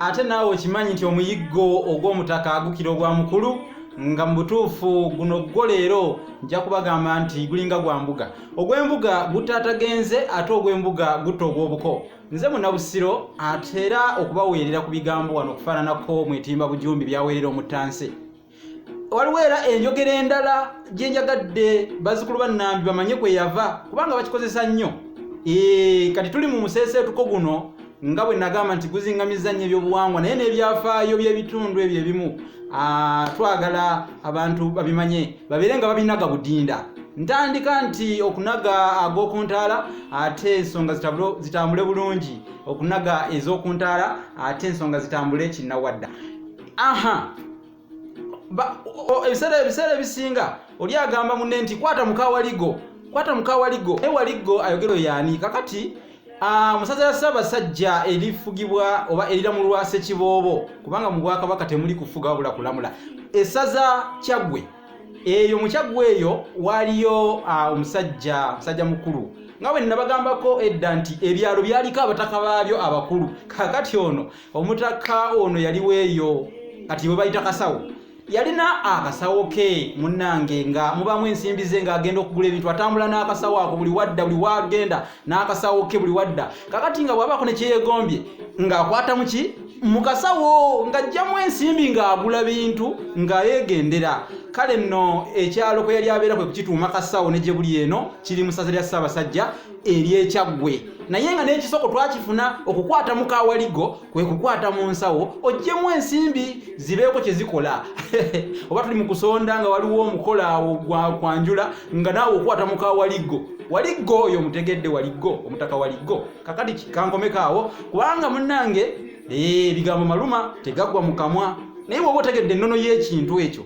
ate naawe okimanyi nti omuyiggo ogw'omutaka agukira ogwa mukulu nga mu butuufu guno gwo leero nja kubagamba nti gulinga gwa mbuga ogw'embuga gutaatagenze ate ogw'embuga gutta ogw'obuko nze munabusiro ate era okubaweerera ku bigambo wano okufaananako mwetimba bujumbi byaweerera omuttansi waliwo era enjogera endala gye njagadde bazzukulu bannambi bamanye kwe yava kubanga bakikozesa nnyo kati tuli mu museeseetuko guno nga bwe nagamba nti guzingamiza nnyo ebyobuwangwa naye n'ebyafaayo by'ebitundu ebyo ebimu ah, twagala abantu babimanye babeere nga babinaga budinda ntandika nti okunaga ag'okuntaala ate ensonga zitambule bulungi okunaga ez'okuntaala ate ensonga zitambule kinnawadda aha ebiseera ebiseera ebisinga oli agamba munne nti kwata mukawaligo kwata mukawaligo naye waligo ayogero yaani kakati musaza ya ssaabasajja erifugibwa oba eriramulwa sekiboobo kubanga mu bwakabaka temuli kufuga wabula kulamula esaza kyaggwe eyo mukyaggwe eyo waaliyo omusajja musajja mukulu nga bwe nnabagambako edda nti ebyalo byaliko abataka baabyo abakulu kakati ono omutakka ono yaliwo eyo kati bwe bayita kasawo yalina akasawo ke munnange nga mubamu ensimbi ze ng'agenda okugula ebintu atambula n'akasawo ako buli wadda buli wagenda n'akasawo ke buli wadda kakati nga bw'abaako ne kyeyegombye ng'akwata mu ki mu kasawo ng'ajjamu ensimbi ng'agula bintu nga yeegendera kale nno ekyalo kwe yali abeera kwe kukituuma kasawo ne gye buli eno kiri mu ssaza lya ssaabasajja eryekyaggwe naye nga n'ekisoko twakifuna okukwata mu kawaligo kwe kukwata mu nsawo ojjemu ensimbi zibeeko kye zikola oba tuli mu kusonda nga waliwo omukola awo gwakwanjula nga naawe okwata mu kawaligo waliggo oyo omutegedde waliggo omutaka waliggo kakati kankomeko awo kubanga munnange eh, ebigambo maluma tegaggwa mu kamwa naye woba otegedde ennono y'ekintu ekyo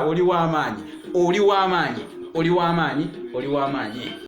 oli w'amaanyi oli w'amaanyi oli w'amaanyi oli w'amaanyi